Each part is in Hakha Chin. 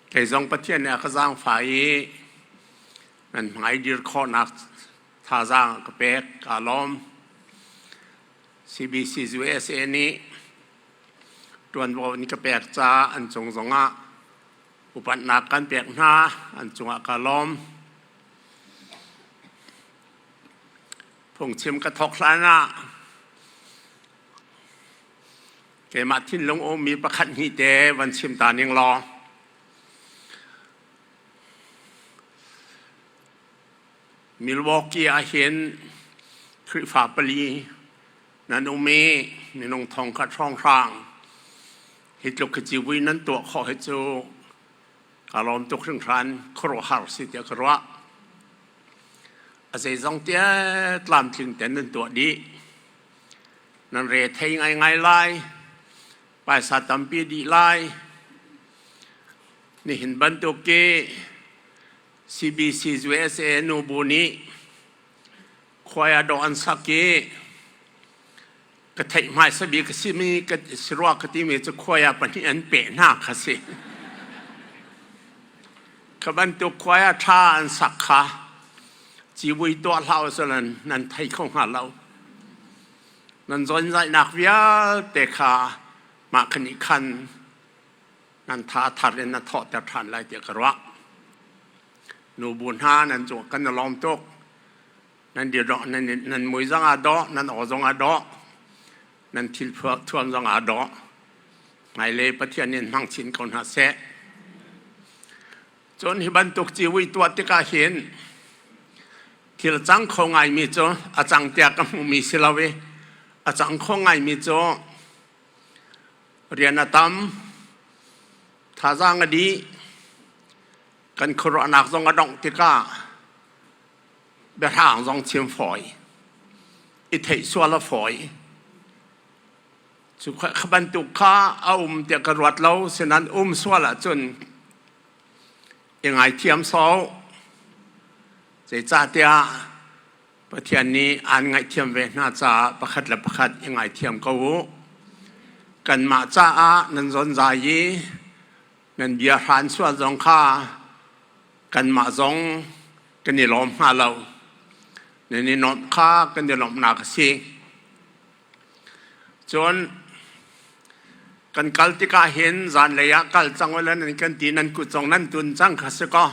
Kei zong Pathian nih a ka zaangfah i nan hmai dir khawhnak thazaang a ka pek kaa lawm. CBCs USA nih ṭuanvo in ka pek ca an cung zongah upatnak kan pek hna an cungah ka lawm. Phungchim ka thawk hlanah keimah thinlung ummi pakhat hnih te van chim ta ning law Milwaukee ah hin Khrihfa pali nan um i minung thongkhat hrawnghrang hi tluk hi civui nan tuah khawh hi cu ka lawm tuk hringhran khuaruahhar si tiah ka ruah a zeizong tia tlamtling ten nan tuah dih nan re thei ngaingai lai paisa tampi dih lai nihin bantuk ki CBC USA nu bu nih khuaya dawh an sak i ka theih hmai sabi ka si mi ka si rua ka ti mi cu khuaya pahnih an peh hna kha si ka bantuk khuaya tha an sak kha civui tuah hlah usih nan nan thei kho hnga lo nan zonzainak vialte kha mah khan nih khan nan tha thar in na thawhter ṭhan lai tiah ka ruah nu bu hna nan cu kan i lawm tuk nan dir dawh nan nan mui zong ah dawh nan aw zong ah dawh nan thil thuam zong ah dawh ngai le pathian in hmang chin ko hna seh Cun hi bantuk ciui tuah tikah hin thil cang kho ngaimi cu a cang tiah ka hmuhmi si lo i a cang kho ngaimi cu rian a tam thazaang a dih kan khuaruahnak zong a dongh tikah biahrang zong chim fawi i theih sual a fawi cu kha bantuk kha a um tiah ka ruat lo sinan um sual ahcun i ngaithiam sau zeicahtiah Pathian nih aan ngaihthiam ve hna caah pakhat le pakhat i ngaithiam ko u kanmah caah nan zonzai i nan bia hran sual zong kha kanmah zong kan i lawm hna lo nan i nuamh kha kan i lawmhnak a si Cun kan kal tikah hin zanlei ah kal cang ula nan kan ti nan kut zong nan tun cang kha si kaw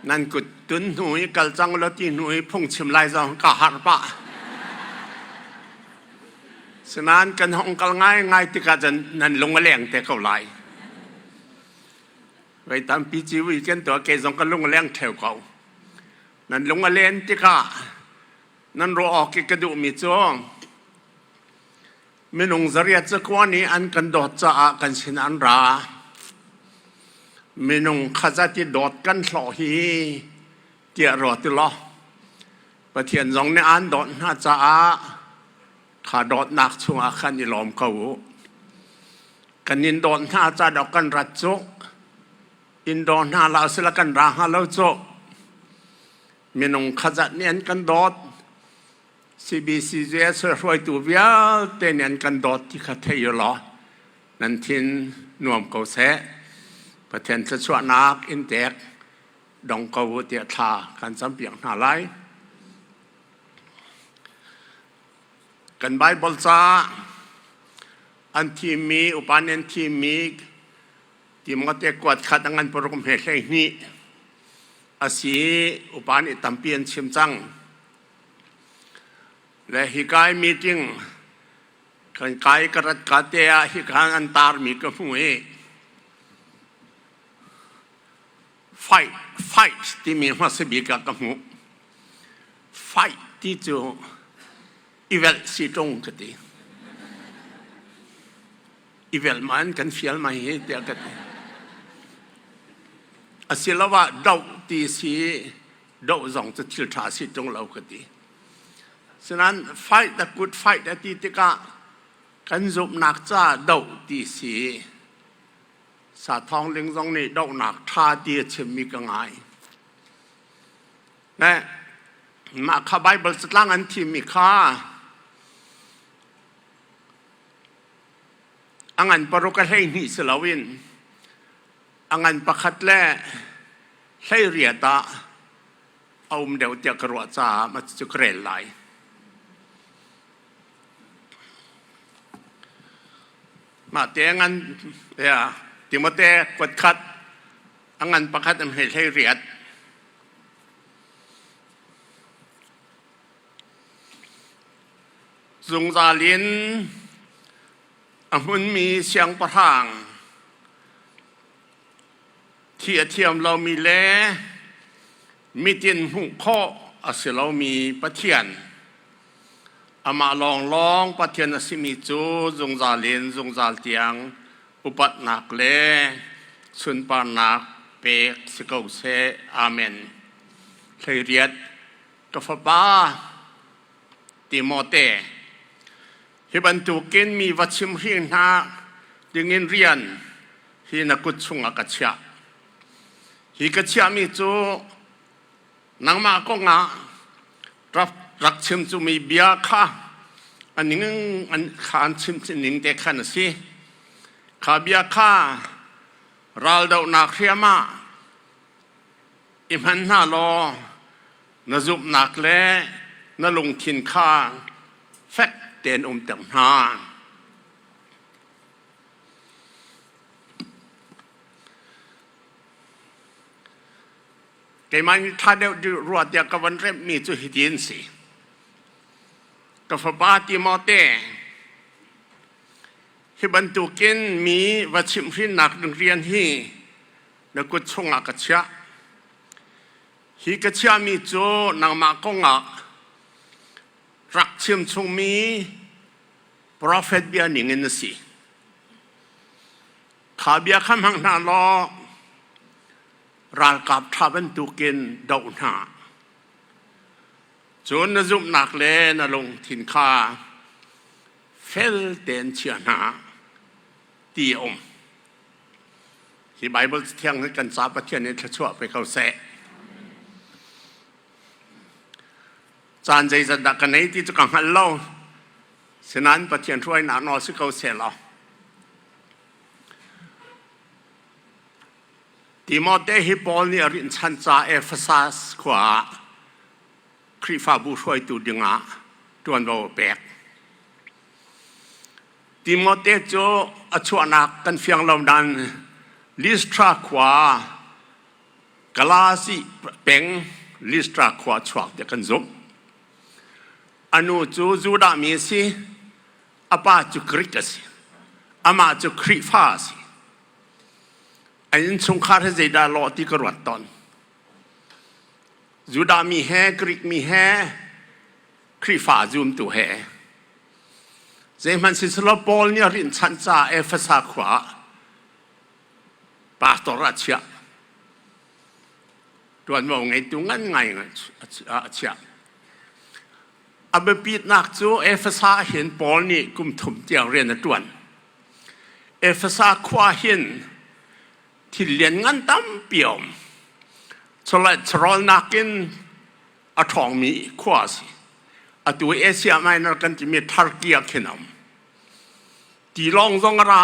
nan kut tun hnu i kal cang ula ti hnu i phungchim lai zong ka harh pah. Sinain kan hong kal ngaingai tikah cun nan lung a leng te ko lai. Vei tampi ciwi kan tuah ke zong ka lung a leng theo ko. Nan lung a len tikah Nan ruah awk i ka duhmi cu minung zariat cakua nih an kan dawt caah kan sin an ra. Minung khazati dawt kan hlawh hi tiah rua ti law Pathian zong nih aan dawt hna caah kha dawtnak chungah khan i lawm ko u. Kan in dawt hna ca dok kan rat cu in dawr hna la sila kan ra hnga lo cu minung khatzat nih an kan dawt CBCJS hruaitu vialte nih an kan dawt ti kha thei u law nan thin nuam ko seh Pathian thluachuahnak in tek dong ko u tiah thla kan campiak hna lai kan Bible ca an thimmi upan an thimmi Timote kuat khat angan parum he hlei hnih asi upa nih tampi an chim cang le hikai meeting kan kai ka rat ka te ah hikan an tar mi ka hmu i fight fight ti mi hmasa bik ah ka hmu fight ti cu i velh si ṭung ka ti. I velh ma in kan fial mai hi tiah ka ti. Asiloah doh ti si doh zong cu thil ṭha si ṭung lo ka ti. Sinain fight a good fight a ti tikah kan zumhnak ca doh ti si sa thawng ding zong nih dohnak ṭha ti a chimmi ka ngai. Nah, mah kha Baibal catlang an thimmi kha a ngan paruk a hleihnih si loin a ngan pakhat le hleiriat ah a um deuh tiah ka ruah caah ma cu ka rel lai. Mah te ngan, yeah, Timote kuat khat a ngan pakhat an hei hleiriat. Zungzal in a hmunmi siangpahrang thi a thiam lomi le Mitin hmuh khawh a si lomi Pathian, amah lawnglawng Pathian a simi cu zungzal in zungzal tiang upatnak le sunparnak pek si ko seh. Amen. Hleiriat ka fapa Timote, hi bantukin mi va chimhri hna dingin rian hi na kut chungah ka chiah. Hi ka chiahmi cu nangmah kong ah rak chim cumi bia kha an kha an chimning te khan a si. Kha bia kha raldohnak hriam ah i hman hna law na zumhnak le na lungthin kha fek tein umter hna. Keimah nih ṭha deuh rua tiah ka van remhmi cu hiti an si. Ka fapa Timote, hi bantukin mi va chimhhrinnak rian hi na kut chungah ka chiah. Hi ka chiahmi cu nangmah kongah rak chim chungmi profet bia ningin na si. Kha bia kha hmang hna law ralkap ṭha bantukin doh hna. Cun na zumhnak le na lungthin kha fel tein chia hna ti a um. Hi Bible thiang hi kan ca Pathian in thluachuah pe ko seh. caan zeizat dah ka nei ti cu ka hngal lo sinain Pathian hruainak nawl si ko seh law Timote hi Paul nih a rinh chan ca Ephesus khua ah Khrihfabu hruaitu dingah ṭuanvo a pek. Timote cu a chuahnak kan fiang lo nain Listra khua Kalasi peng Listra khua chuak tiah kan zumh. A nu cu Judah mi a si. A pa cu Grik a si. Amah cu Khrihfa a si. A innchungkhar he zeidah lawh ti ka ruat tawn. Judah mi he, Grik mi he, Khrihfa zumtu he. Zeihmanh si selaw Paul nih a rinhchanh ca Efesa khua ah pastor ah chiah ṭuanvo ngeitu ngai a chiah a biapitnak cu Efesa ah hin Paul nih kum thum tiang rian a ṭuan Efesa khua hin thil lianngan tampi a um chawlnak in a ṭhawngmi khua a si atu Asia Minor kan timi Turkey ah khin a um tilawng zong a ra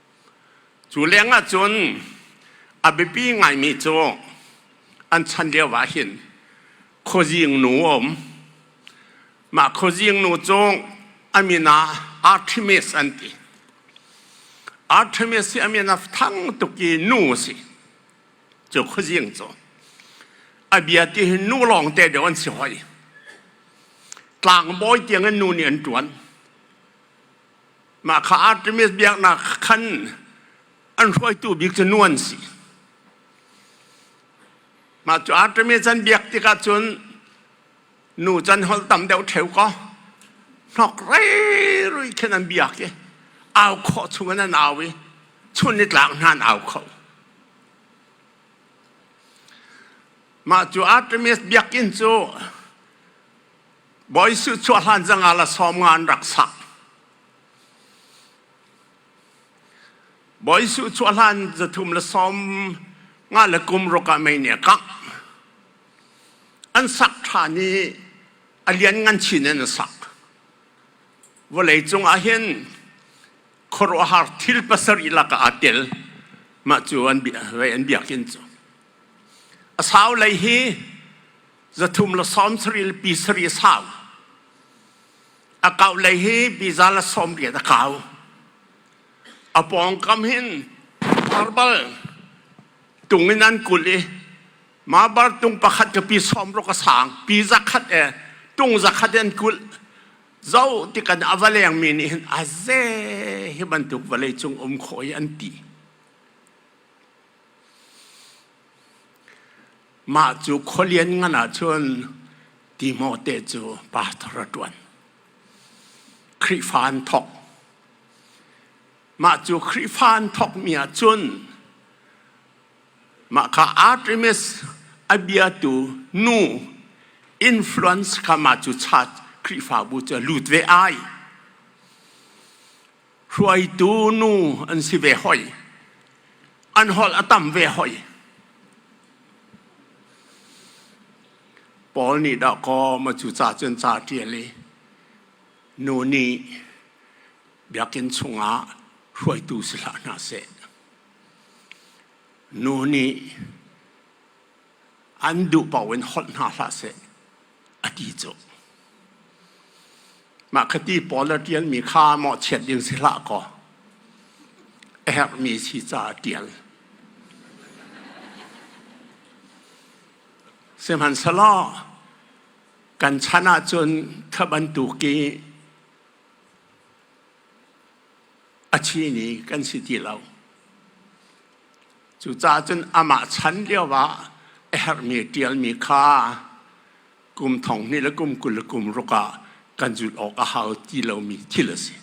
Cu leng ahcun a biapi ngaimi cu an chan lio ah hin khuazing nu a um. Mah khuazing nu cu a min ah Artemis an ti. Artemis hi a min a thang tuk i nu a si. Cu khuazing cu a bia ti hi nu lawng te deuh an si hoi. Tlangbawi tiang in nu nih an ṭuan. Mah kha Artemis biaknak khan an hruaitu bik cu nu an si. Mah cu Artemis an biak tikah cun nu can holh tam deuh theo ko hnok rei rui khin an biak i au khawh chungin an au i chun i tlak hna an au kho. Mah cu Artemis biakinn cu Bawi Suh chuah hlan zangah la sawm nga an rak sak. Bawi Suh chuah hlan zathum la sawm nga le kum ruk ah mei nih a kangh. An sak ṭhan i a lian ngan chin in a sak. Vawlei cung ah hin khuaruahhar thil pasarih lak ah aa tel. Mah cu an bia, an biak hin cu. A sau lei hi zathum la sawm saril pi sari a sau a kau lei hi biza la sawm riat a kau a pawngkam hin arbal tung in an kul i ma bar tung pakhat ka pi sawm rok a sang pi zakhat e tung zakhat an kul zo ti kan avaleng mi nih hin aze hi bantuk vale cung um khoi an ti Mah cu khualian ngan ahcun Timote cu pastor a ṭuan. Khrihfa an thawk. Mah cu Khrihfa an thawkmi ahcun mah kha Artemis a biatu nu influence kha mah cu Khrihfabu cu a lut ve ai. hruaitu nu an si ve hoi. An holh a tam ve hoi. Paul nih dah ko ma cu ca cun ca ṭial i nu nih biakinn chungah hruaitu si hlah hna seh. Nu nih an duh paoh in holh hna hlah seh a ti cu. Mah khati Paul a ṭialmi kha maw chiat ding si hlah kaw a herhmi si ca a ṭial. Sihmanhselaw kan chan ahcun kha bantuk i a thi ni kan si ti lo. Cucaah cun amah chan lioah a herhmi ṭialmi kha kum thong hnih le kum kul le kum ruk ah kan zulh awk a hau ti lomi thil a si.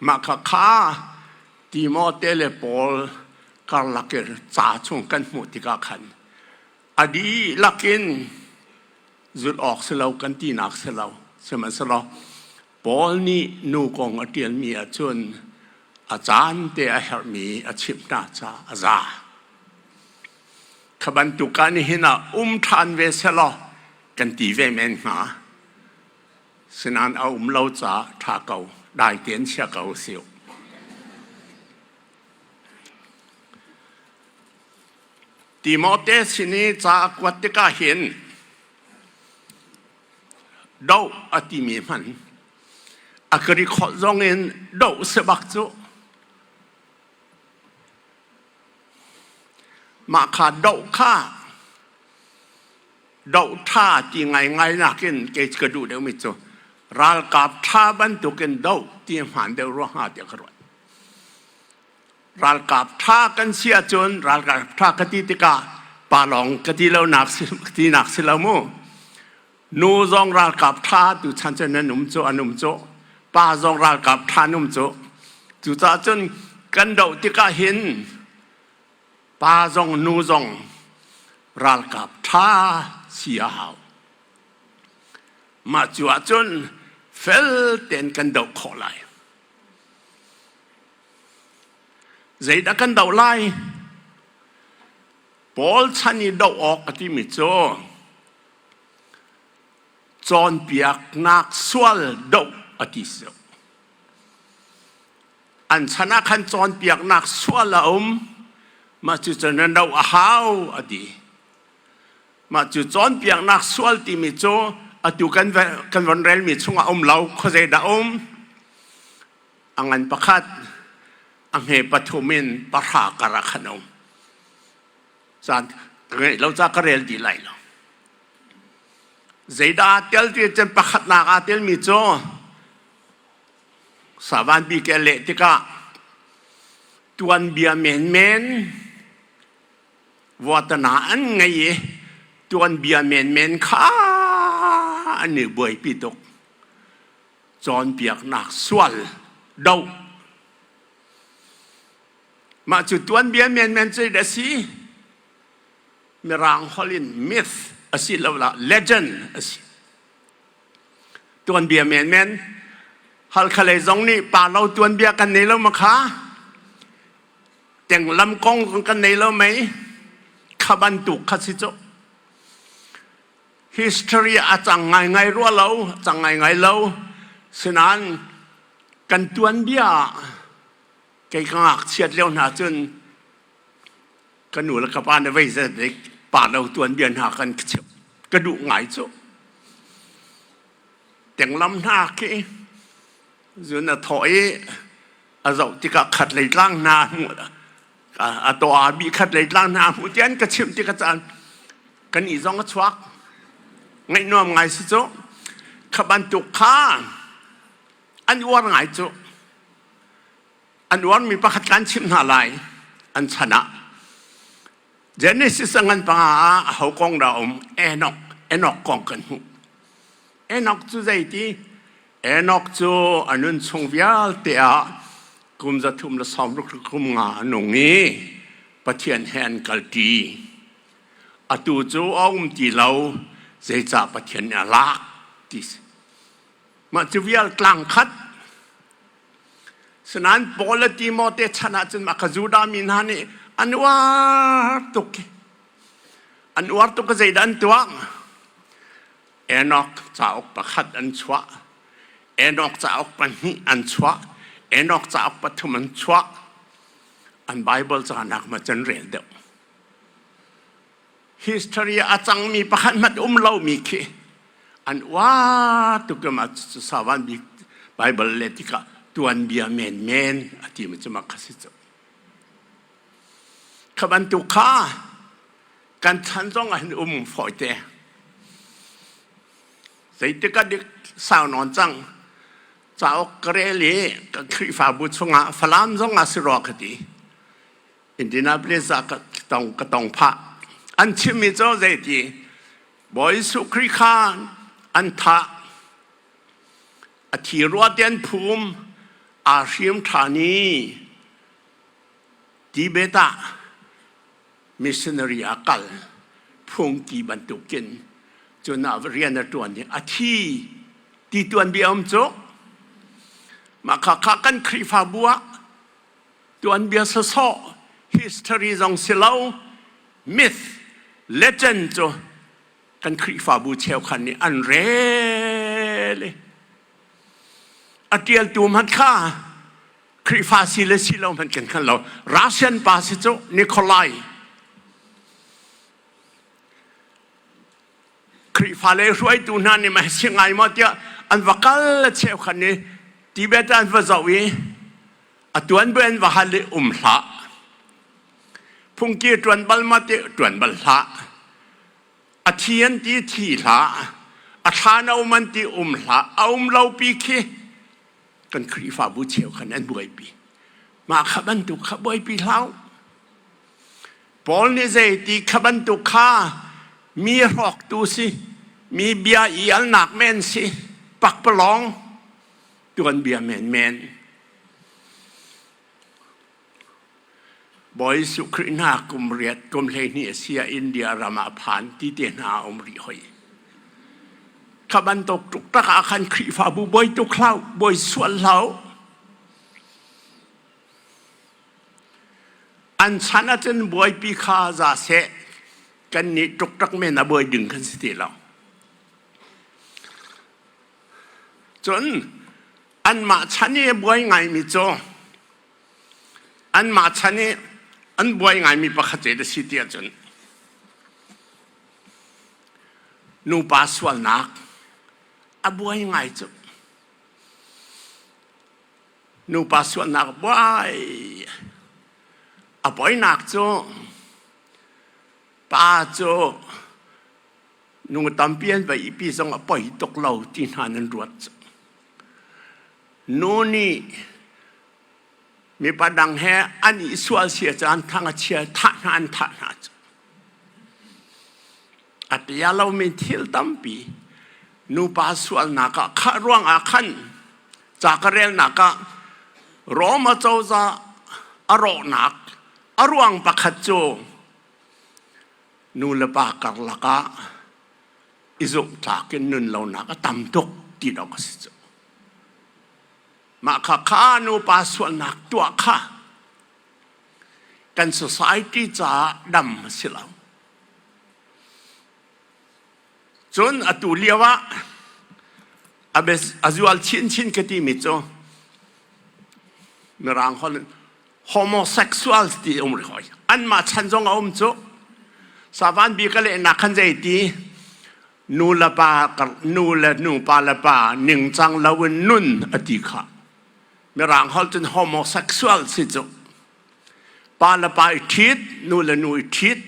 Mah kha kha Timote le Paul karlak in ca chung kan hmuh tikah khan a dihlak in zulh awk si lo kan tinak si lo. Sihmanhsehlaw Paul nih nu kong a ṭialmi ahcun a caan te a herhmi a chimh hna caah a za. Kha bantuk ah nihin ah um ṭhan ve selaw kan ti ve men hnga. Sinan a um lo caah ṭha ko, dai tein chia ko si uh. Timote sin i ca kuat tikah hin doh a timi hman a ka ri kholh zong in doh sebak cu mah kha doh kha doh ṭha ti ngaingai nakin kei ka duh deuhmi cu ralkap ṭha bantukin doh ti hmaan deuh ruangah tiah ka ruat ralkap ṭha kan si ahcun ralkap ṭha ka ti tikah palawng ka ti lonak si ka tinak si lo mu nu zong ralkap ṭha tu chan cu nan um cu an um cu pa zong ralkap ṭha an um cu cucaah cun kan doh tikah hin pa zong nu zong ralkap ṭha si a hau mah cu ahcun fel tein kan doh khawh lai Zeidah kan doh lai? Paul chan i doh awk a timi cu cawnpiaknak sual doh a ti si. An chan ah khan cawnpiaknak sual a um. Mah cu cun na doh a hau a ti. Mah cu cawnpiaknak sual timi cu atu kan kan von relmi chungah um lo. Khuazei dah um? a ngan pakhat a hme pathum in pahra kar ah khan um caan ngeih lo ca ka rel di lai lo zeidah tel ti cun pakhatnak aa telmi cu savan bi ke leh tikah tuanbia menmen watana an ngei i tuanbia menmen kha an i buaipi tuk cawnpiaknak sual do mah cu tuan bian menmen cu a si mirang holh in myth a si lo la legend a si tuan bia menmen hal khalei zong nih pa lo tuan bia kan nei lo ma kha teng lam kong kan nei lo mei kha bantuk kha si cho history a cang ngaingai rua lo a cang ngaingai lo sinan kan tuan bia kei ka ngakchiat leo hna cun ka nu le ka pa ne vei zedik pa lo tuan bia hna kan ka duh ngai cu tenglam hna khi zun a thaw i a zoh tikah khat lei tlang hna a to a mi khat lei tlang hna hmuh tian ka chimh ti ka caan kan i zong a chuak ngaih nuam ngai si cu kha bantuk kha an uar ngai cu an uar mi pakhat kan chimh hna lai an chan ah Genesis a ngan panga a ho kong dah um Enoch Enoch kong kan hmuh Enok cu zeiti? Enok cu a nun chung vialte ah kum za thum le sawm ruk kum nga a nung i Pathian he an kalṭi. Atu cu a um ti lo, zeicah Pathian nih a lak ti si. Mah cu vial tlang khat. Sinain Paul le Timote chan ahcun mah ka Judah mi hna nih an uar tuk. An uar tuk ka zeidah an tuah? Enoch cauk pakhat an chuah. Enoch cauk pahnih an chuah. Enoch cauk pathum an chuah. An Bible ca nakma can rel deuh. History a cangmi pakhat mat um lomi khi an wa tukam a sawan bik Bible le tikah tuan bia men men a ti ma cu makhasi cu. Kha bantuk kha kan chan zong ah hin um fawi te zeitik ka dik sau nawn cang cauk ka rel i ka khrihfabu chungah falam zong ah si rua ka ti Indianapolis ah ka tong ka tong pha an chimmi cu zei ti Bawi Jesu Khrist kha an tha a thi rua tian phum a hriam tha ni Tibet ah missionary a kal phungki bantukin cunah rian a ṭuan i a thi ti tuanbia um cu mahka kha kan khrihfabu ah tuanbia sawsawh history zong si lo myth legend cu kan khrihfabu cheukhan nih an rel i a ṭialtu hmanh kha Khrihfa si le si lo hmanh kan hngal lo. Russian pa si cu Nikolai. Khrihfa le hruaitu hna nih mah si ngai maw tiah an va kal le cheu khan i Tibet an va zoh i a tuan bu an va hal i um hlah. Phungki tuan bal ma ti tuan bal hlah. A thi an ti thi hlah. A thla no man ti um hlah. A um lo pi khi kan Khrihfabu cheu khan an buaipi. Mah kha bantuk kha buaipi hlau. Paul nih zei ti kha bantuk kha mi hrawktu si, mi bia i alnak men si, pakpalawng tuan bia menmen. Bawi Jesuh Khrih hna kum riat kum hleihnih a si ah India ram ah phan ti te hna a um rih hoi. Kha bantuk tuk tak ah khan Khrihfabu bawi tuk hlau, bawi sual hlau. An chan ah cun buaipi kha za seh kan nih tuk tak men a buai ding kan si ti lo. Cun anmah chan i buai ngaimi cu Anmah chan i an buai ngaimi pakhat te si ti ahcun nupa sualnak a buai ngai cu. Nupa sualnak buai a buainak cu pa cu nung tampi an vai i pi zong a poi tuk lo ti hna nan ruat cu. nu nih mipa dang he an i sual sia caan thang a chia thah hna an thah hna cu a tia lomi thil tampi nupa sualnak ah khah ruangah khan ca ka relnak ah Roma cozah a rawhnak a ruang pakhat cu nu le pa karlak ah i zumhtlak in nun lonak a tam tuk ti dong a si cu. Mah kha kha nupa sualnak tuah kha kan society caah dam a si lo. Cun atu lio ah a zual chinchin ka timi cu Mirang holh homosexuals ti um ri hoi. An mah chan zong a um cu. Savan bi ka lehnak khan zei ti nu le pa nu le nupa le pa ningcang loin nun a ti kha mirang holh cun homosexual si cu pa le pa i ṭhit nu le nu i ṭhit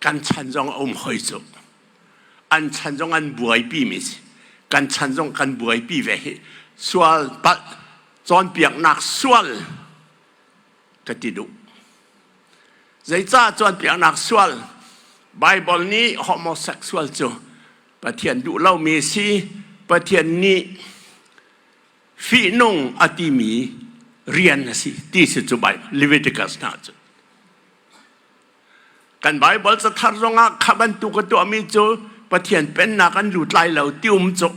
kan chan zong a um hoi cu an chan zong an buaipi mi si kan chan zong kan buaipi ve hi sual palh cawnpiaknak sual ka ti duh. Zeicah cawnpiaknak sual Baibal nih homosexual cu Pathian duh lomi si Pathian nih fihnung a timi rian a si ti si cu Leviticus hna cu. Kan Baibal cathar zongah kha bantuk a tuahmi cu Pathian pennak an lut lai lo ti um cu.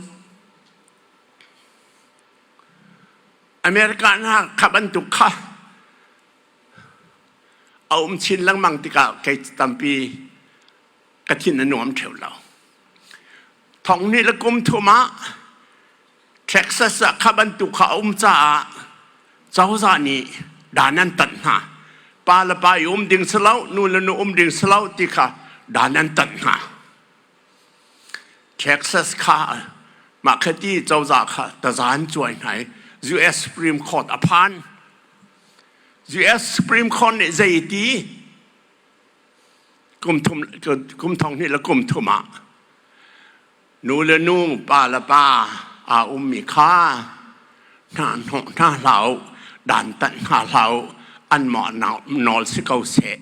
America hna kha bantuk kha a um chin lengmang tikah kei tampi ka thin a nuam theo lo. Thong nih le kum thum ah Texas ah kha bantuk kha a um caah cozah nih dan an tanh hna. Pa le pa i um ding si lo, nu le nu um ding si lo ti kha dan an tanh hna. Texas kha mah khati cozah kha tazan cuai hna i US Supreme Court a phan. US Supreme Court nih zeiti kum thum kum thong hnih le kum thum ah nu le nu pa le pa aa ummi kha hna hnawh hna hlah u dantat hna hlah u an mah nawl si ko seh.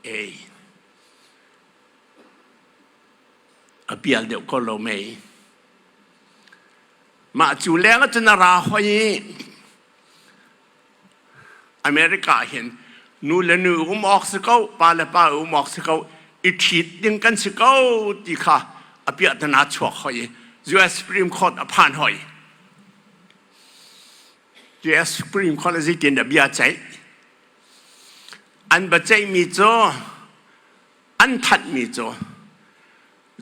Ei. A pial deuh ko lo mei. Mah cu leng ahcun a ra hoi i America ah hin nu le nu um awk si ko, pa le pa um awk si ko, i ṭhit ding kan si ko ti kha a piahtana chuak hoi i US Supreme Court a phan hoi. Yes, Supreme Court zeitin a bia ceih. An baceihmi cu an thanhmi cu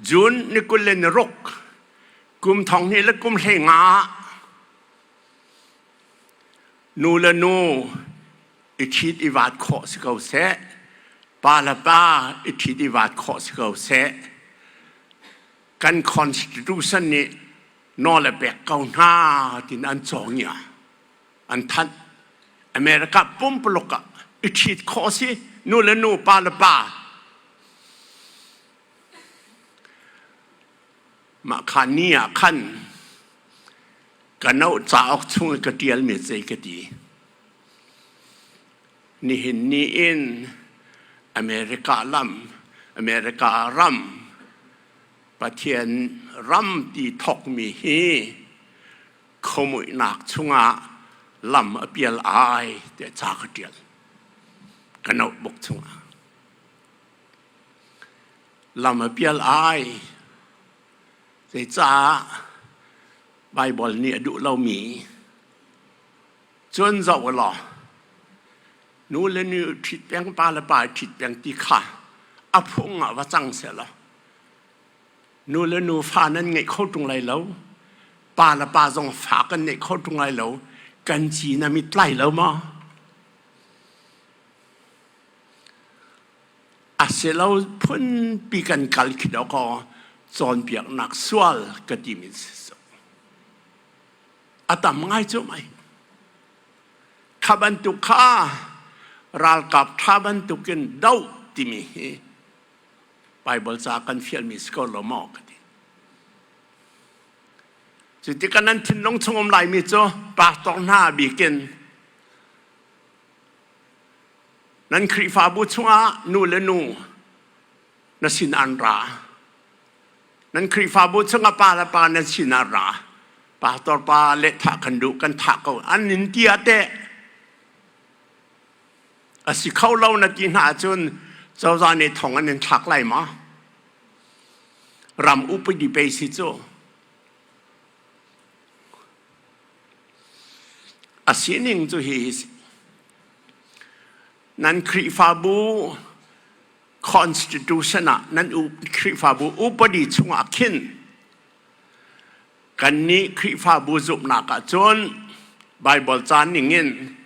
June ni kul le ni ruk kum thong hnih le kum hlei nga nu le nu i ṭhit i vaat khawh si ko seh pa le pa i ṭhit i vaat khawh si ko seh kan constitution nih nawl a pek ko hna tiin an cawng ia an thanh america pumpaluk ah i ṭhit khawh si nu le nu pa le pa mah kha ni ah khan ka no cauk chung i ka ṭialmi zei ka ti nihin ni in america lam america ram Pathian ram ti thawkmi hi khomuihnak chungah lam a pial ai te ca ka tial ka notebook chungah lam a pial ai zei caah Bible nih a duh lomi cun zoh u law nu le nu ṭhit peng pa le pa ṭhit peng ti kha a phung ah va cang seh law Nu le nufa nan ngeih kho ṭung lai lo. Pa le pa zong fa kan neih kho ṭung lai lo. Kan ci nam i tlai lo maw? A si lo phunpi kan kal khi do kaw cawnpiaknak sual ka timi si. A tam ngai cu mai. Kha bantuk kha ralkap ṭha bantukin doh timi hi Bible ca kan fialmi si ko lo maw ka ti. Cu tikah nan thinlung chung um laimi cu pastor hna bikin nan Khrihfabu chungah nu le nu na sin an ra. Nan Khrihfabu chungah pa le pa na sin an ra. Pastor pa le thah kan duh kan thah ko an in tiah te A si kho lo na ti hna ahcun cozah nih thong an in thlak lai ma? Ram upadi pei si cu. A sining cu hi hi si. Nan Khrihfabu constitution ah nan Khrihfabu upadi chungah khin kan nih Khrihfabu zumhnak ah cun Bible caan ning in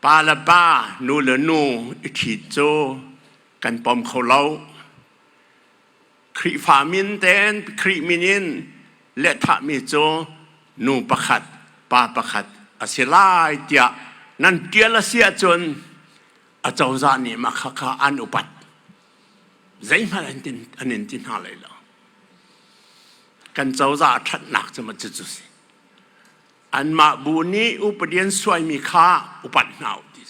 Pa le pa, nu le nu i ṭhit cu kan pom kho lo. Khrihfa min ten Khrih min in lehthahmi cu nu pakhat, pa pakhat a si lai tiah nan ṭial a si ahcun acozah nih mah khakha an upat. Zeihmanh an in ti hna lai lo. Kan cozah a ṭhatnak cu cu si. Anmah bu nih upadi an suaimi kha upat hna u ti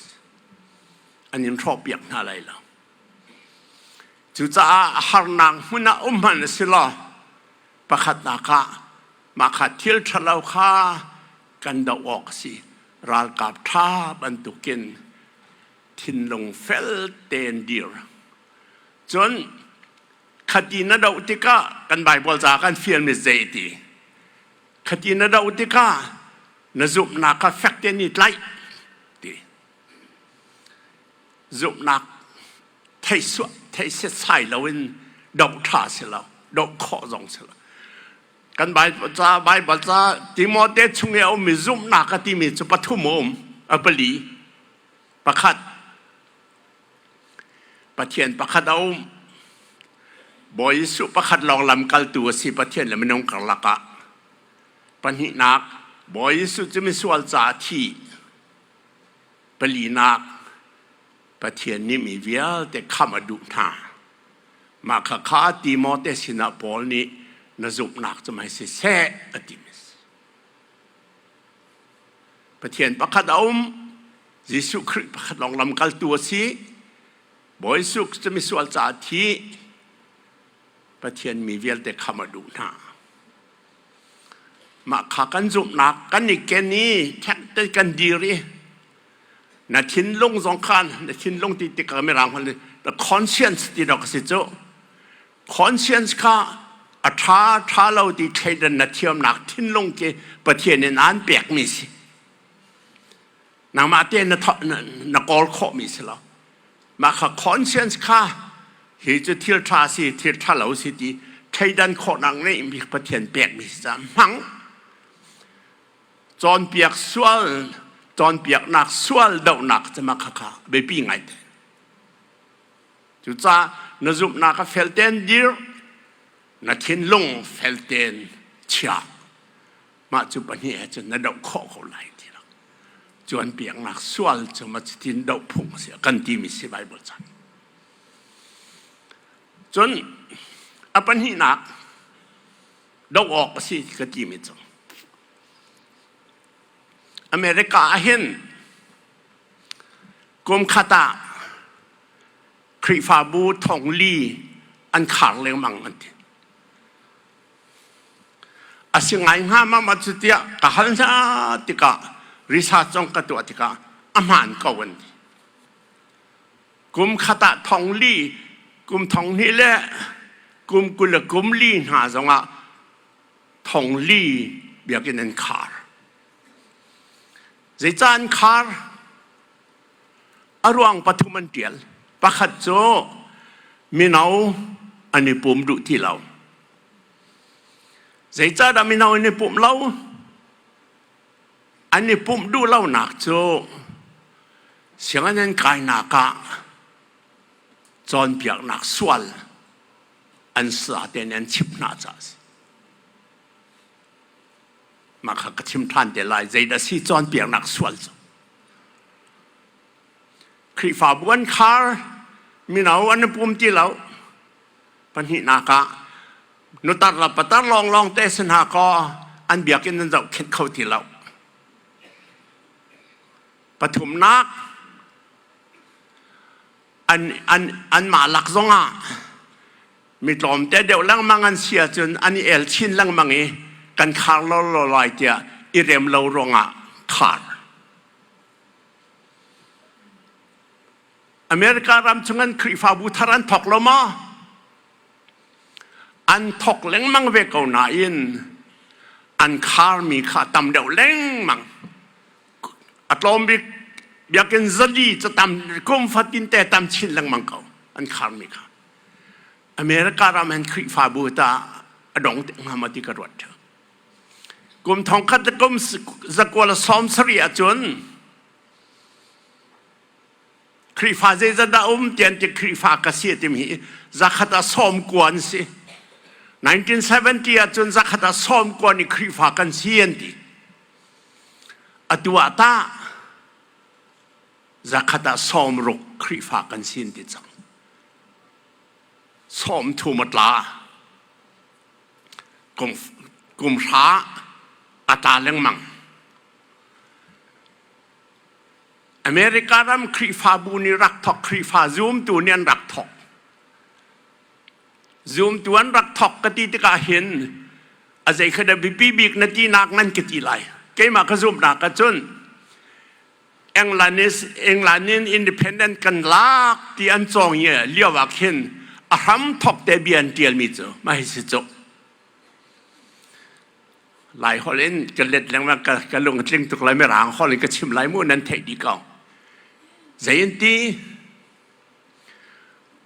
an in hrawhpiak hna lai lo. Cucaah harnak hmun ah um hman a si law pakhat nak ah mah kha thil ṭhalo kha kan doh awk a si. Ralkap ṭha bantukin thinlung fel tein dir. Cun khati na doh tikah kan Baibal ca kan fial mi zeiti? khati na do tikah na zumhnak kha fek tein i tlaih ti zumhnak theisuah theiset sai loin doh ṭha si lo doh khawh zong si lo kan Bible ca Bible ca Timote chung i a ummi zumhnak a timi cu pathum a um a pali pakhat Pathian pakhat a um. Bawi Jesuh pakhat lawng lamkaltu a si Pathian le minung karlak ah. Pahnihnak, Bawi Jesuh cu misual caah thi. Palinak, Pathian nih mi vialte khamh a duh hna. Mah khakha Timote sinah Paul nih na zumhnak cu mei siseh a ti mi si. Pathian pakhat a um. Jesuh Khrih pakhat lawng lamkaltu a si. Bawi Jesuh cu misual caah thi. Pathian mi vialte kha a duh hna. Mah kha kan zumhnak kan i ken i thekte kan dir i na thinlung zong khan na thinlung ti tikah mirang hol the conscience ti dok a si cu conscience kha a ṭha ṭha lo ti thleidan na thiamnak thinlung khi Pathian in aan pekmi si nangmah te na, na kawl khawhmi si lo mah kha conscience kha hi cu thil ṭha si thil ṭha lo si ti thleidan khawhnak ngeihmi Pathian pekmi si cah hmang cawnpiak sual cawnpiaknak sual dohnak cama khakha biapi ngai te Cucaah na zumhnak a felten dir, na thinlung felten chia. Mah cu pahnih he cun na doh khawh ko lai ti lo. Cuan piaknak sual cu ma cutin doh phung a si kan timi si Bible caan. Cun a pahnihnak doh awk a si ka timi cu America ah hin kum khat ah Khrihfabu thongli an khar lengmang an ti. A si ngai hnga mama cu tiah ka hal hna tikah research zong ka tuah tikah a hmaan ko an ti. Kum khat ah thongli, kum thonghni le kum kul le kum li hna zongah thongli biakinn an khar. Zeica an khar? A ruang pathum an ṭial. Pakhat cu mino an i pum duh ti lo. Zeicahdah mino an i pumh lo? An i pumh duh lonak cu sianginn an kainak ah cawnpiaknak sual an sa tein an chimh hna caah a si. Mah kha ka chim ṭhan te lai. Zeidah a si cawnpiaknak sual cu. Khrihfabu an khar, mino an i pum ti lo. Pahnihnak ah, nutar le patar lawnglawng te si hna kaw an biakinn an zohkhenh kho ti lo. Pathumnak, an an anmah lak zongah mi tlawmte deuh lengmang an si ahcun an i el chin lengmang i kan khar lawlaw lai tiah i rem lo ruangah khar America ram chung an Khrihfabu thar an thok lo maw an thok lengmang ve ko nain an khar mi kha tam deuh lengmang a tlawm bik biakinn zadi cu tam kum fatin te tam chin lengmang ko an kharmi kha America ram an Khrihfabu ta a dong te ngam ati ka ruat kum thong khat kum zakwala som sari ahcun Khrihfa zeizat dah um tian ti Khrihfa ka si tim hi zakhata som kuan si 1970 ahcun zakhata som kuan i Khrihfa kan si an ti Atu ah tah zakhat ah sawm ruk Khrihfa kan sin ti cang. Sawm thum a tla. Kum, kum hra a tla lengmang. America ram Khrihfabu nih rak thok Khrihfa zoomtu nih an rak thok. Zumtuan rak thawk ka ti tikah hin a zeikhat a biapi bik na tinak nan ka ti lai. Keimah ka zumhnak ka cun England is England in independent kan lak ti an cawng i lio ah khin a hram thawk te bia an tialmi cu mai si cuk. Lai holh in ka let lengmang ka, ka lung tling tuk lai mi rang holh in ka chim lai mu nan theih dih ko. Zei in ti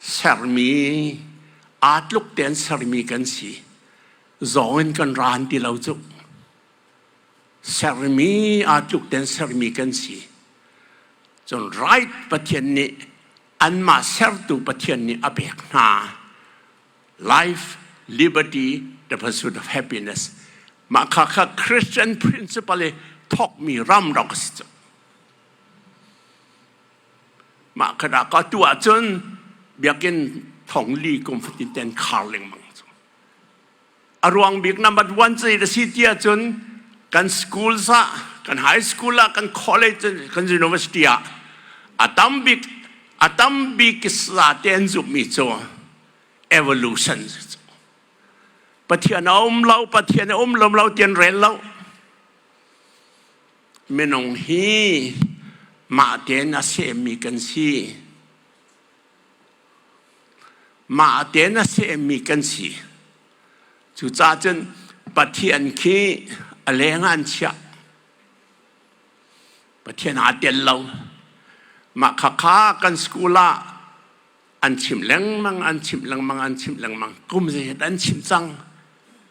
sermi aa tluk tein sermi kan si zong in kan ran ti lo cu sermi aa tluk tein sermi kan si cun right pathian nih anmah sertu pathian nih a pek hna life liberty the pursuit of happiness mah kha kha christian principle i thawkmi ram rak a si cu Mah khat ah ka tu ahcun biakinn thong li kum fatin ten khar lengmang cu. A ruang bik number one cu na si ti ahcun kan schools ah kan high school ah kan college kan university ah a tam bik a tam bik kisa te an zumhmi cu evolution cu Pathian a um lo Pathian a um lo lo ti an rel lo Minung hi mahte in a semmi kan si. Mahte in a semmi kan si. Cucaah cun Pathian khi a leng ah an chiah. Pathian aa tel lo. Mah khakha kan school ah an chim lengmang, an chim lengmang, an chim lengmang. Kum zeihet an chim cang.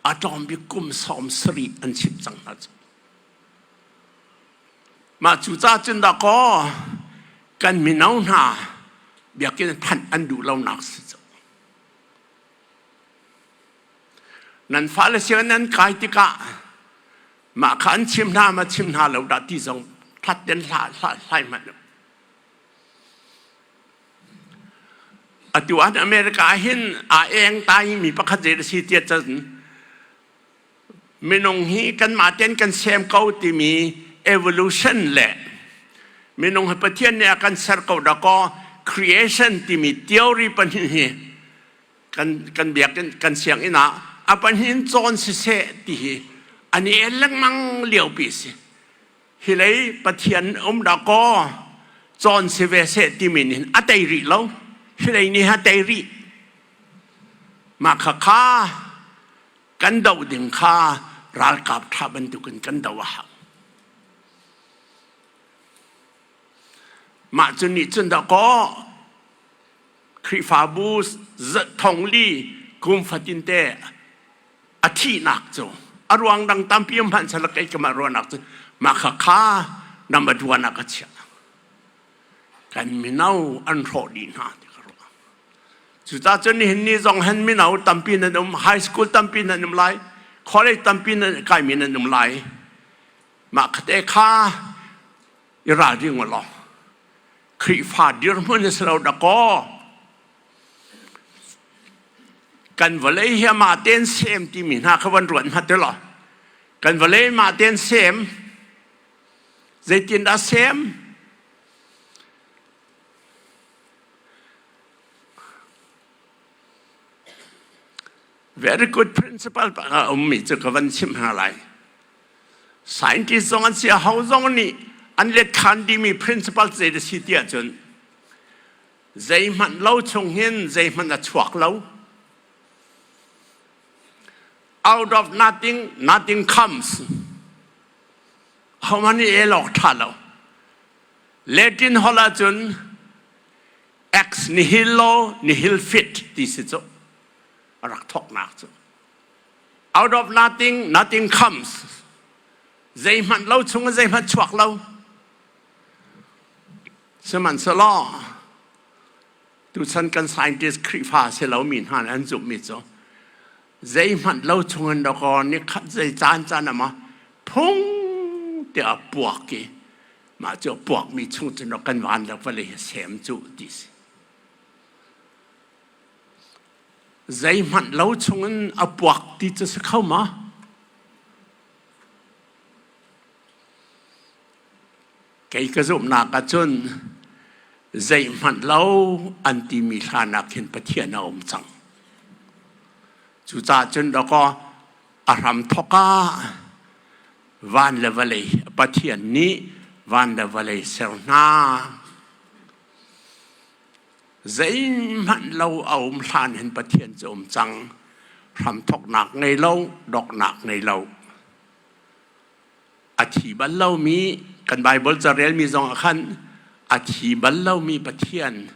A tlawm bik kum sawm sarih an chim cang hna cu. Mah cucaah cun dakaw kan mino hna biakinn thanh an duh lonak si cu. Nan fale sianginn nan kai tikah mah kha an chim hna ma chim hna lo dah ti zong hlat den hla hla hlai hmanh lo. Atu an America ah hin a eng tai mi pakhat zei a si tiah cun minung hi kanmah ten kan sem ko timi evolution le minung hi pathian nih a kan ser ko dakaw creation timi theory pahnih hi kan kan biakinn kan sianginn ah a pahnin cawn siseh ti hi an i el lengmang lio pi si hi lei pathian um dakaw cawn si ve se timi nin a tei rih lo hi lei nih a tei rih mah kha kha kan doh ding kha ralkap ṭha bantukin kan doh a hau. Mah cu nih cun da kaw Khrihfabu zat thong li kum fatin te a thihnak cu a ruang dang tampi um hmanh sal kai kamah ruahnak cu mah kha kha nam a duan a ka chiah. kan mino an hrawh dih hna ti ka ruah. Cucacun nihin ni zong hen mino tampi nan um, high school tampi nan um lai, college tampi nan kaimi nan um lai. Mah kate kha i ralring u law Khrihfa dirhmun si lo dakaw kan vawlei hi ma ten sem timi hna kha van ruat hma te law kan vawlei ma ten sem Zeitindah sem? Very good principle a ummi cu ka van chim hna lai. Scientist zong an si, ho zong nih an let than dimi principle zei si tiah cun zeihmanh lo chung hin zeihmanh a chuak lo. Out of nothing, nothing comes. Homan nih el awk ṭha lo. Latin holh ahcun ex nihilo nihil fit ti si cu a rak thawknak cu. Out of nothing, nothing comes. Zeihmanh lo chung zeihmanh chuak lo. Sihmanhselaw, tuchan kan scientist Khrihfa si lomi hna nih an zumhmi cu Zeihmanh lo chungin rakawr nih khat zei caancaan a mah phung tiah a puak i mah cu a puakmi chung cun rak kan van le vale hi sem cu ti si. Zeihmanh lo chungin a puak ti cu si kho ma? kei ka zumhnak ah cun zeihmanh lo an timi hlan ah khin Pathian a um cang cucaah cun dakaw a hram thawk ah van le vawlei Pathian nih van le vawlei ser hna zeihmanh lo a um hlan hin Pathian cu um cang hram thawknak ngei lo doknak ngei lo a thi bal lomi kan Baibal carelmi zong ah khan a thi bal lomi Pathian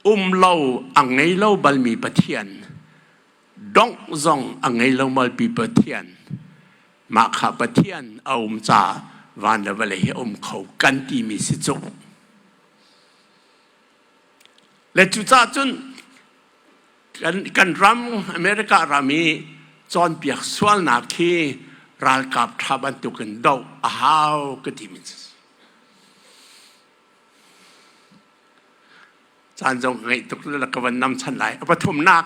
um lo a ngei lo balmi Pathian dongh zong a ngei lo malpi Pathian mah kha Pathian a um ca van le vale hi a um kho kan timi si cu Le cucah cun kan, kan ram America ram i cawnpiak sualnak khi ralkap ṭha bantuk in doh a hau ka ti min caan zong ngeih tuk le ka van nam chan lai pathumnak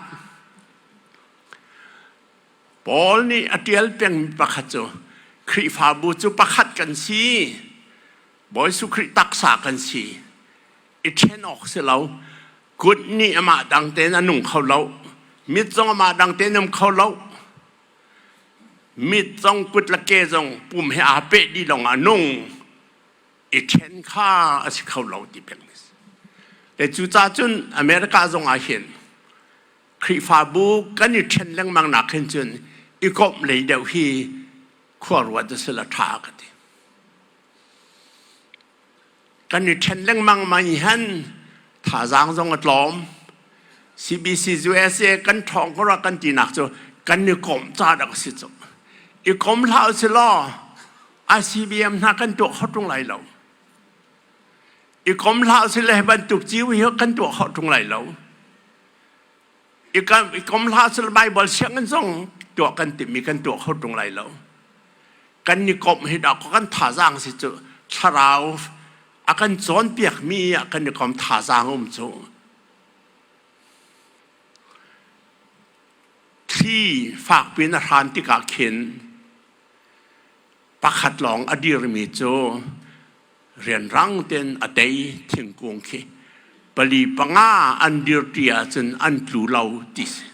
Paul nih a ṭial peng pakhat cu Khrihfabu cu pakhat kan si Bawi Jesuh Khrih taksa kan si i ṭhen awk si lo. Kut nih amah dang tein a nung kho lo. Mit zong amah dang tein um kho lo. Mit zong kut le ke zong pum he aa peh dih lawng ah nung i ṭhen kha a si kho lo ti peng a si. Le cucacun America zong ah hin Khrihfabu kan i ṭhen lengmang nak hin cun i komh lei deuh hi khuaruat a si la ṭha ka ti. Kan i ṭhen lengmang ma nih han thazaang zong a tlawm. CBC USA kan ṭhawng ko rua kan tinak cu kan i kom ca dak a si cu. I kom hlah u si law ICBM hna kan tuah kho ṭung lai lo. I kom hlah u si le bantuk ciu hi kan tuah kho ṭung lai lo. i kom hlah sel Bible siangin zong tuah kan timmi kan tuah kho tung lai lo. Kan ni komh hi da ko kan thazang si cu thlarau a kan cawnpiak mi a kan ni kom thazang um cu. Thli fak pin a hran tikah khin pakhat lawng a dirmi cu rianrang tein a tei thingkung khi pali panga an dirṭi ahcun an tlu lo ti si.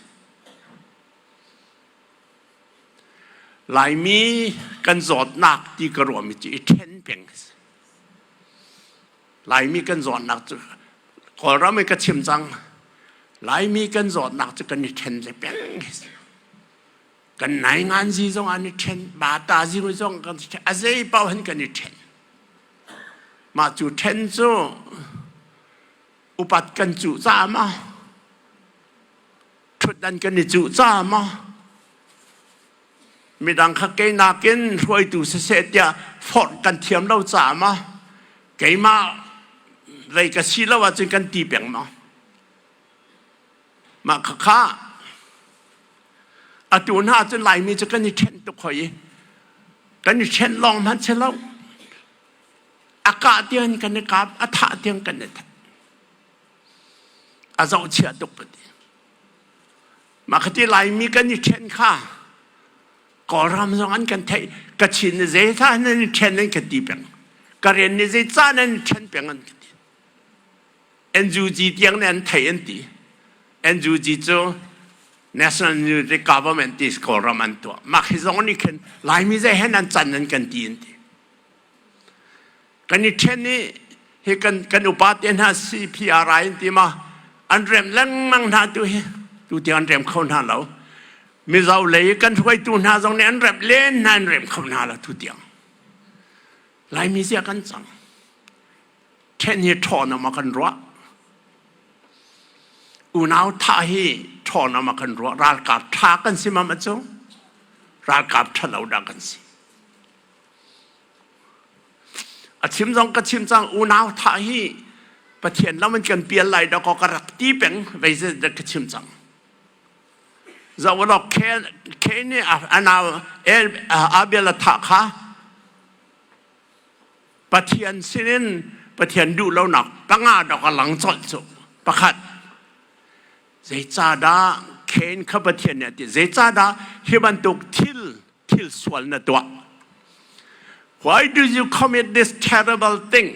Laimi kan zawtnak ti ka ruahmi cu i ṭhen peng si. Laimi kan zawtnak cu Kawlram in ka chim cang. Laimi kan zawtnak cu kan i ṭhen le peng si. kan nai ngan zi zong an i ṭhen ba ta zi ru zong kan a zei paohan kan i ṭhen mah cu ṭhen cu upat kan cuh ca ma ṭhut dan kan i cuh ca ma midang kha kei nakin hruaitu siseh tiah forh kan thiam lo ca ma keimah rei ka si lo ahcun kan ti peng ma Mah khakha atu hna cun Laimi cu kan i ṭhenh tuk hoi i kan i ṭhenh lawng hmanh si lo a kah tiang kan i kap a thah tiang kan i thah a zohchia tuk ka ti mah khati Laimi kan i ṭhen kha Kawlram zong an kan theih Kachin ni zei tha nan i ṭhen an ka ti peng Karen ni zei ca nan i ṭhen peng an ka ti NUG tiang nih an thei an ti. NUG cu National Unity Government ti Kawlram an tuah. Mah hi zong nih khin Laimi zei hen an can nan kan ti an ti. Kan i ṭhen i hi kan, kan upate hna CPRI an ti ma an rem lengmang hna tu hi tu ti an rem kho hna lo. Mizo lei i kan hruaitu hna zong nih an rem len hna an rem kho hna lo tu tiang. Laimi zia kan cang. ṭhen hi ṭhawnam a kan ruah. Unau tha hi ṭhawnam a kan ruah. Ralkap ṭha kan si mam a cu. Ralkap ṭhalo dah kan si. A chim zong ka chim cang unau tha hi Pathian lam an kan pial lai da ko ka rak ti peng vei zedat ka chim cang. Zawlo Ken Ken nih anau Abel a tha kha Pathian sinin Pathian duh lonak tangah dok a lang colh cu pakhat zeicahdah khen kha Pathian nih a ti zeicahdah hi bantuk thil thil sual na tuah why do you commit this terrible thing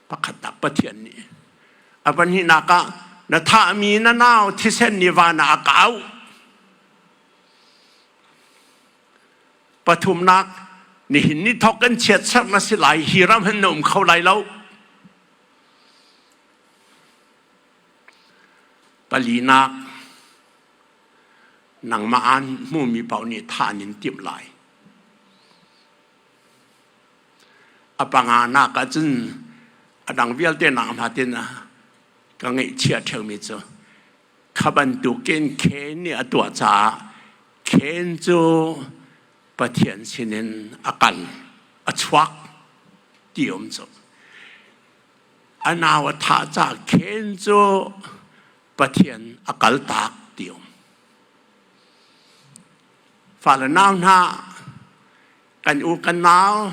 pakhat tak Pathian nih a pahnih nakah na thahmi na nau thisen nih van ah a kau Pathumnak, nihin ni thawk kan chiatserh na si lai, hi ram hin na um kho lai lo. Palinak, nangmah aan hmumi paoh nih thah in timh lai. A panga nak ahcun a dang vialte nak hmatin ka ngeihchia ṭheumi cu Kha bantukin Cain nih a tuah caah Cain cu Pathian sinin a kal, a chuak ti a um cu. A nau a thah caah Cain cu Pathian a kaltak ti um. Fale nau hna, kan u kan nau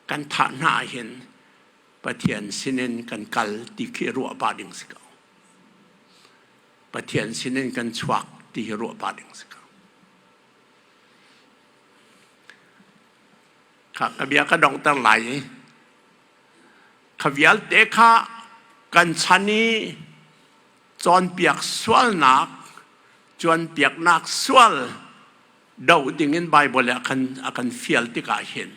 kan thah hna ahhin Pathian sinin kan kal ti khi ruah pah ding si ko. Pathian sinin kan chuak ti hi ruah pah ding si ko. Kha ka bia ka dongter lai i kha vialte kha kan chan i cawnpiak sualnak cawnpiaknak sual do dingin Bible ah khan a kan fial tikah hin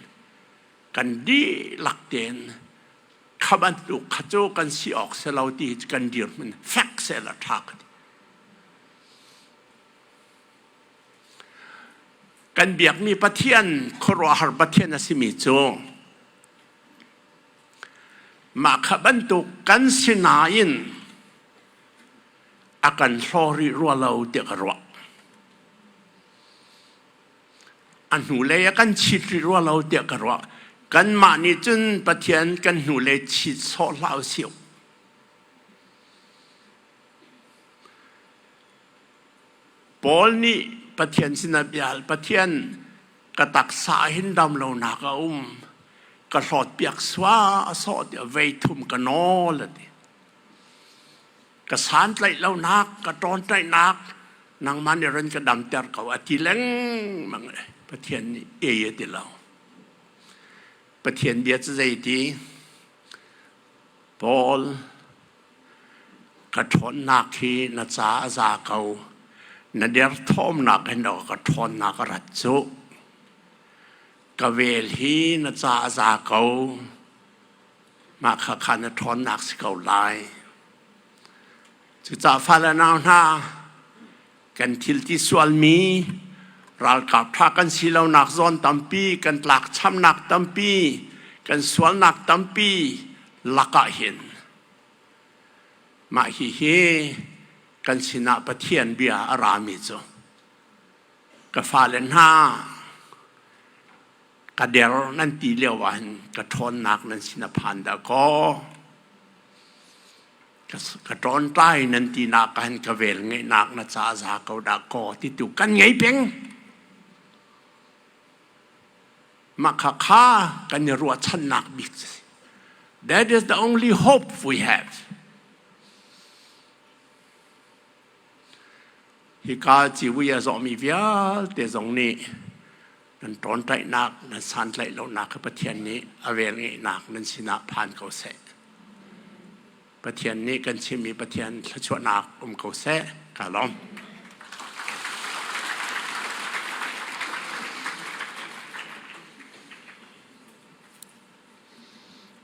kan dihlak tein khaban tu kha cu kan si awk se lo ti kan dirhmun fek se la tha ka ti kan biakmi pathian khuaruahhar pathian a simi cu mah kha bantuk kan sinain a kan hlori rua lo tiah ka ruah a hnulei a kan chit rih rua lo tiah ka ruah. Kanmah nih cun Pathian kan hnulei chit sawh hlah usih. Paul nih Pathian sinah bia hal. Pathian ka taksa hin dam lonak a um. Ka hlawt piak sua a sawh tiah vei thum ka nawl a ti. ka santlaih lonak ka ṭawnṭaihnak nangmah nih ran ka damter ko a ti lengmang Pathian nih e a ti lo Pathian bia cu zeiti Paul ka ṭhawnnak hi na ca a za ko na derthawmnak in ka ka ṭhawnnak a rat cu ka vel hi na ca a za ko mah kha kha na ṭhawnnak si ko lai. Cucaah fale nau hna, kan thil ti sualmi, ralkap ṭha kan si lonak zawn tampi, kan tlakchamnak tampi, kan sualnak tampi lakah hin mah hihi kan sinah Pathian bia a rami cu ka fale hna ka der nan ti lio ahhin ka ṭhawnnak nan sin a phan dah kaw ka ṭawnṭai nan tinak ahhin ka velngeihnak na ca za ko dah kaw ti tu kan ngei peng mah kha kha kan i ruahchannak bik si that is the only hope we have Hika civui a zawhmi vialte zong nih nan ṭawnṭaihnak, nan santlaih lonak kha Pathian nih a velngeihnak nan sinah phan ko seh. Pathian nih kan chimmi Pathian thluachuahnak um ko seh. Ka lawm.